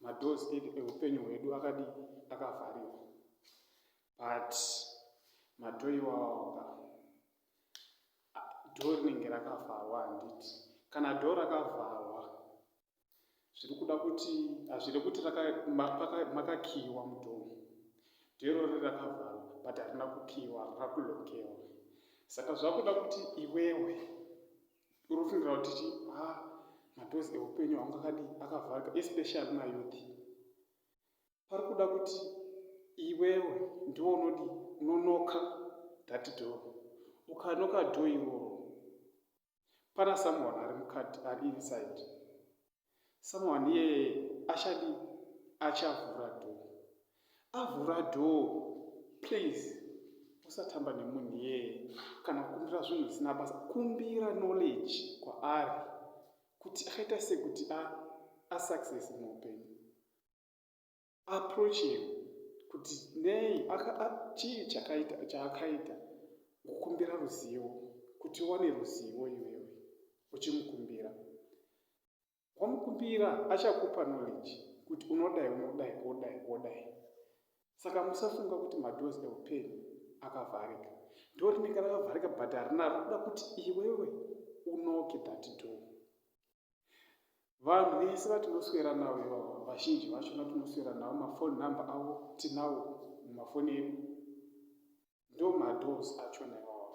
madoors edu eupenyu hwedu akadi akavhariwa but madhoo iwawaoka dhoo rinenge rakavharwa handiti kana dhoo rakavharwa zviri kuda kuti hazviri kuti makakiiwa mudhoo dherori rakavharwa but harina kukiiwa rakulokewa saka zvakuda kuti iwewe unofungira kuti chi ha madoors eupenyu haungakadi akavharika especially mayouth pari kuda kuti iwewe ndiwo unodi unonoka that door ukanoka door iroro pana someone ari mukati ari inside someone iyeye achadi achavhura door avhura door please usatamba nemunhu iyeye kana kukumbira zvinhu zvisina basa kumbira knowledge kwaari kuti akaita sekuti asuccess muupenyu approaching kuti nei chii chakaita chaakaita kukumbira ruzivo kuti uwane ruzivo iwewe uchimukumbira wamukumbira achakupa knowledge kuti unodai unodai wodai wodai saka musafunga kuti madoors eupenyu akavharika ndo rinenge rakavharika but harina rikuda kuti iwewe unoke that door vanhu vese vatinoswera navo ivavo vazhinji vacho vatinoswera navo mafoni number avo tinawo mumafoni edu ndo madoors achona ivavo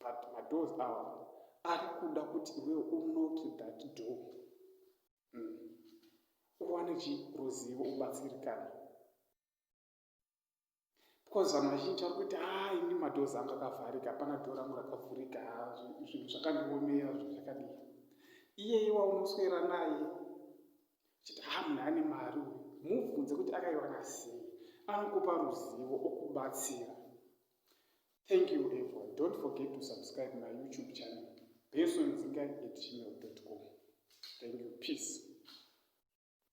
but madoors avo ari kuda kuti iwewo unoki that door hmm. uwane chiruzivo ubatsirikana because vanhu vazhinji vari kuita haa ini madhozi anga akavharika hapana dho rangu rakavhurika zvinhu zvakandiomera zvinhu zvakadii iyeye waunoswera naye chiti haa munhu ane mari uyu mubvunze kuti akaiwana sei anokupa ruzivo okubatsira thank you everyone don't forget to subscribe my youtube channel besonzinga at gmail com thank you peace